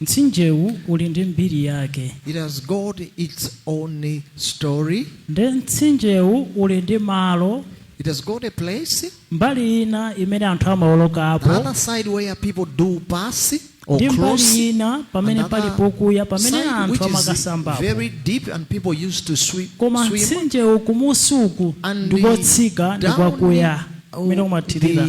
Mtsinjewu uli ndi mbiri yake. It has got its own story. Nde mtsinjewu uli ndi malo. It has got a place. Mbali ina imene anthu amawolokapo. The other side where people do pass or ndi mbali ina pamene pali pokuya pamene anthu amakasambapo koma mtsinjewu kumunsi uku ndi kotsika ndi kwakuya kumene kumathirira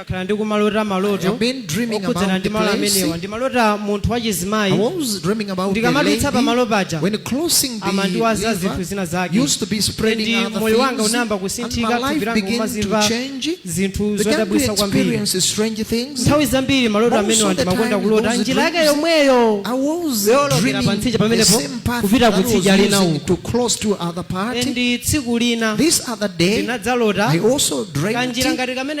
Ndakhala ndikumalota maloto I've been dreaming okhudzana about ndi the malo place. amenewa ndimalota munthu I wachizimayi was dreaming about the Ndikamadutsa pa malo lady paja, when crossing the amandiwaza zinthu river zina zake used to be spreading Ndi other moyo wanga things unayamba and kusinthika, my thupi life langa began to umazimva change. zinthu Began to zodabwitsa kwambiri experience strange things. nthawi zambiri maloto Most amenewa of the ndimakonda time kulota those njira yake dreams- yomweyo I was Yolokera dreaming pa mtsinje the pamenepo, same path kupita that ku was tsidya lina using uku. to cross to other parts. ndi tsiku lina This other day, ndinadzalota I also dreamt kanjira ngati kamene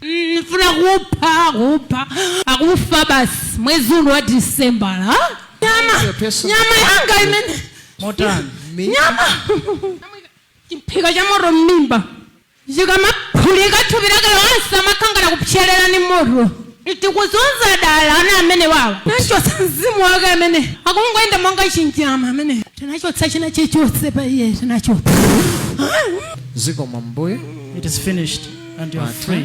ndifuna kupha kupha akufa basi mwezi uno wa December nyama Your personal- nyama yanga imene motani nyama chiphika cha moto m'mimba Chikamaphulika thupi lake lonse amakangana kupserera ndi moto. Tikuzunza dala ana amenewawa. Tinachotsa mzimu wake amene akungoyenda monga chinyama ameneyu. Tinachotsa china chilichonse pa iye tinachotsa. Zikomo Ambuye. It is finished and you are Mata. free.